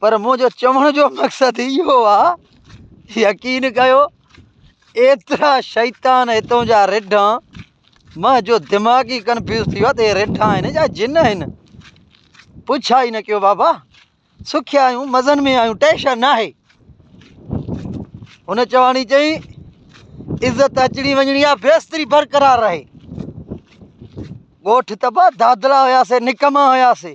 پر منهنجو چوڻ جو مقصد اهو آ يقين ڪيو ايترا شيطان هتون جا رڍا مه جو دماغ ئي ڪنفيوز ٿي ويو آ ته هي رڍا آهن يا جن آهن پڇا ئي نه ڪيو بابا سکيا آهيون مزن ۾ آهيون ٽيشن ناهي هن چواڻي چئي عزت اچڻي وڃڻي آ بيستري برقرار رهي ڳوٺ تبا دادلا هياسي نڪما هياسي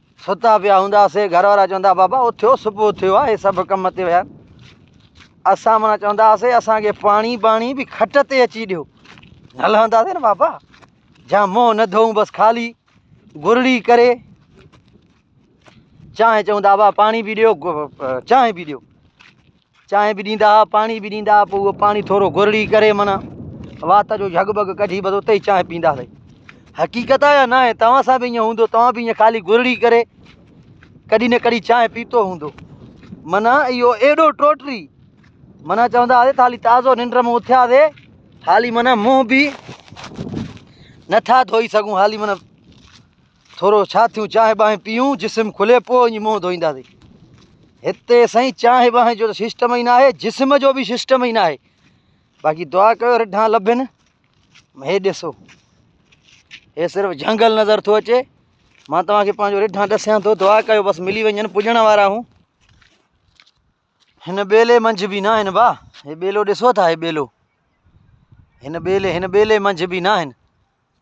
ستا پيا هونداسين گهر وارا چوندا بابا اٿيو صبح ٿيو آهي سڀ ڪم تي ويا اسان مانا چوندا هاسي اسانکي پاڻي باڻي به کٽ تي اچي ڏيو هلنداسين نه بابا جا منهن نه ڌوئون بس خالي گرڙي ڪري چانهه چوندا بابا پاڻي به ڏيو چانهه به ڏيو چانهه به ڏيندا هئا پاڻي به ڏيندا هئا پوء اهو پاڻي ٿورو گرڙي ڪري منا وات جو جھڳ بگ ڪڍي بس اتي چانهه پيندا سي حقيقت آ يا نه آهي توهان سان به ائين هوندو توهان به ائين خالي گرڙي ڪري ڪڏي نه ڪڏي چانهه پيتو هوندو منا اهو ايڏو ٽوٽري منا چوندا هئا خالي تازو ننڊ ۾ اٿيا سي خالي منا منهن به نٿا ڌوئي سگھون خالي منا ٿورو ڇا ٿيون چانهه ٻانهه پيئون جسم کلي پوء وڃي منهن ڌوئينداسين هتي سائين چانهه ٻانهه جو سسٽم ئي ناهي جسم جو به سسٽم ئي ناهي باقي دعا ڪيو رڍا لڀن هي ڏسو هي صرف جهنگل نظر ٿو اچي مان توهان کي پنهنجو رڍا ڏسيان ٿو دعا ڪيو بس ملي وڃن پڄڻ وارا آهون هن ٻيلي منجهه به ناهن با هي ٻيلو ڏسو ٿا هي ٻيلو هن ٻيلي هن ٻيلي منجهه به ناهن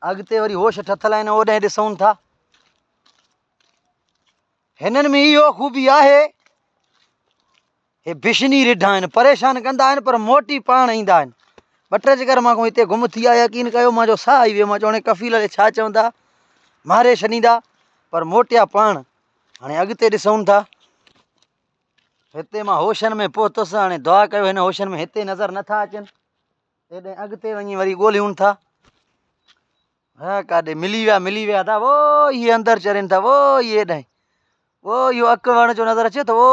اڳتي وري هوش ٺٿل آهن اوڏانهن ڏسون ٿا هنن ۾ اهو خوبي آهي هي بشني رڍا آهن پريشان ڪندا آهن پر موٽي پاڻ ايندا آهن ٻه ٽي چڪر مان کو هتي گم ٿي آيا يقين ڪيو مان جو ساهه آئي ويو مان چوڻي ڪفيل لي ڇا چوندا ماري ڇڏيندا پر موٽيا پاڻ هاڻي اڳتي ڏسون ٿا هتي مان هوشن ۾ پهتس، هاڻي دعا ڪيو هن هوشن ۾ هتي نظر نه ٿا اچن، تيڏانهن اڳتي وڃي وري ڳوليون ٿا. ها ڪاڏي ملي ويا ملي ويا ٿا وو هي اندر چرين ٿا وو هي هيڏانهن وو اهو اک وڻ جو نظر اچي ٿو وو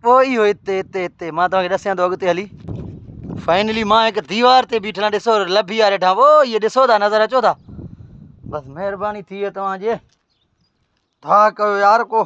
وو اهو هتي هتي هتي مان توهان کي ڏسيان ٿو اڳتي هلي فائنلي مان هڪ ديوار تي بيٺل آ ڏسو لڀي آ ڏٺا وو هي ڏسو ٿا نظر اچو ٿا بس مهرباني ٿي ويو توهان جي ٿا ڪيو يار ڪو